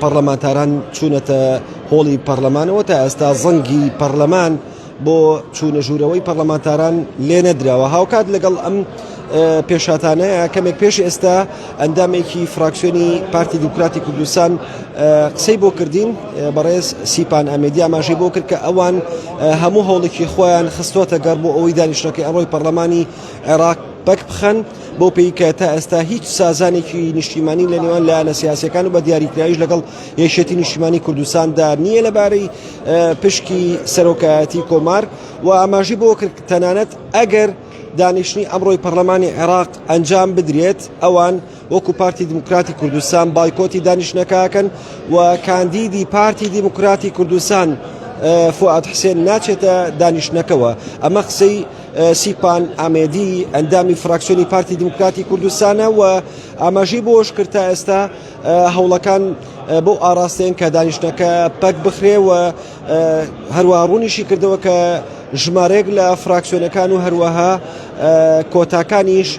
پەڕلەمانتاران چوونەتە هۆڵی پەڕلەمانەوە، تا ئێستا زەنگی پەڕلەمان بۆ چوونە ژوورەوەی پەڕلەمانتاران لێنەدراوە، هاوکات لەگەڵ ئەم پێشهاتانەیە کەمێک پێش ئێستا ئەندامێکی فراکسیۆنی پارتی دیموکراتی کوردستان قسەی بۆ کردین بەڕێز سیپان ئەمێدی ئاماژەی بۆ کرد کە ئەوان هەموو هەوڵێکی خۆیان خستۆتە گەڕ بۆ ئەوەی دانیشتەکەی ئەڕۆی پەڕلەمانی عێراق پەک بخەن بەو پێی کە تا ئێستا هیچ سازانێکی نیشتیمانی لە نێوان لایەنە سیاسەکان و بە دیاریکراویش لەگەڵ یەشێتی نیشتیمانی کوردستاندا نییە لەبارەی پشکی سەرۆکایەتی کۆمار و ئاماژی بۆ کرد تەنانەت ئەگەر دانیشتنی ئەمڕۆی پەرلەمانی عێراق ئەنجام بدرێت ئەوان وەکو پارتی دیموکراتی کوردستان بایکۆتی دانیشتنەکەکەن و کاندیدی پارتی دیموکراتی کوردستان فعاد حسێن ناچێتە دانیشتنەکەەوە ئەمە قسەی سیپان ئامێدی ئەندامی فراکسیۆنی پارتی دیموکراتی کوردستانە و ئاماژەی بۆش کرد تا ئێستا هەوڵەکان بۆ ئاراستەیەن کە دانیشتەکە پەک بخرێ و هەروە ڕوونیشی کردەوە کە ژمارەیەک لە فراکسیۆنەکان و هەروەها کۆتاکانیش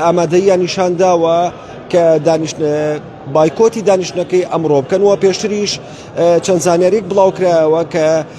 ئامادەیە نیشان داوە کە بایکۆتی دانیشتەکەی ئەمڕۆ بکەن و پێشتریش چەند زانیاریک بڵاوکرایەوە کە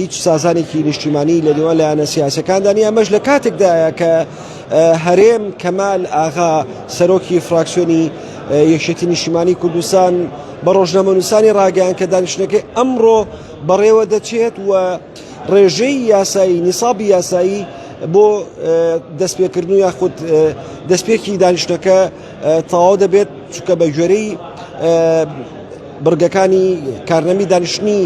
هیچ سازانێکی نیشتیمانی لە نێوان لایەنە سیاسەکاندا نیە ئەمەش لە کاتێکدایە کە هەرێم کەمال ئاغا سەرۆکی فراکسیۆنی یەکشێتی نیشتیمانی کوردستان بە ڕۆژنامەنووسانی ڕاگەیان کە دانیشتەکەی ئەمڕۆ بەڕێوە دەچێت و ڕێژەی یاسایی نیسابی یاسایی بۆ دەستپێکردن و یاخود دەستپێکی دانیشتەکە تەواو دەبێت چکە بە گوێرەی بڕگەکانی کارنەمی دانیشتنی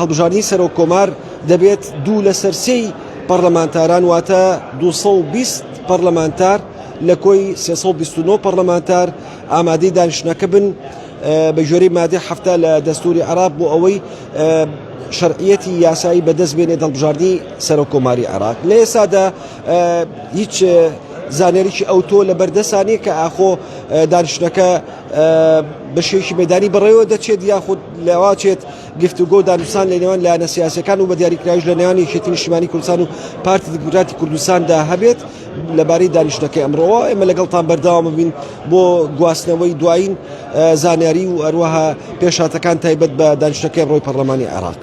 هەڵبژاردنی سەرۆک کۆمار دەبێت دوو لەسەر سێی پەرلەمانتاران واتە 220 پەرلەمانتار لە کۆی 329 پەرلەمانتار ئامادەی دانیشتنەکە بن بە گوێرەی مادەی هەفتە لە دەستوری عراق بۆ ئەوەی شەرعیەتی یاسایی بەدەست بێنێ دڵبژاردی سەرۆک کۆماری عراق لە ئێستادا هیچ زانێریی ئەوتۆ لە بەردەسانی کە ئاخۆ دانیشتەکە بەشێکی مەدانی بەڕێوە دەچێت یاخود لەواچێت گفتوگۆ دانوسان لە نێوان لایەنە سیاسەکان و بە دیاریکراویش لە نێوانی یەکێتی نیشتمانی کوردستان و پارتی دیموکراتی کوردستاندا هەبێت لەبارەی دانیشتەکەی ئەمڕۆوە ئێمە لەگەڵتان بەرداوام ببین بۆ گواستنەوەی دوایین زانیاری و ئەروەها پێشاتەکان تایبەت بە دانیشتەکەی ڕۆی پەرلەمانی عێراق.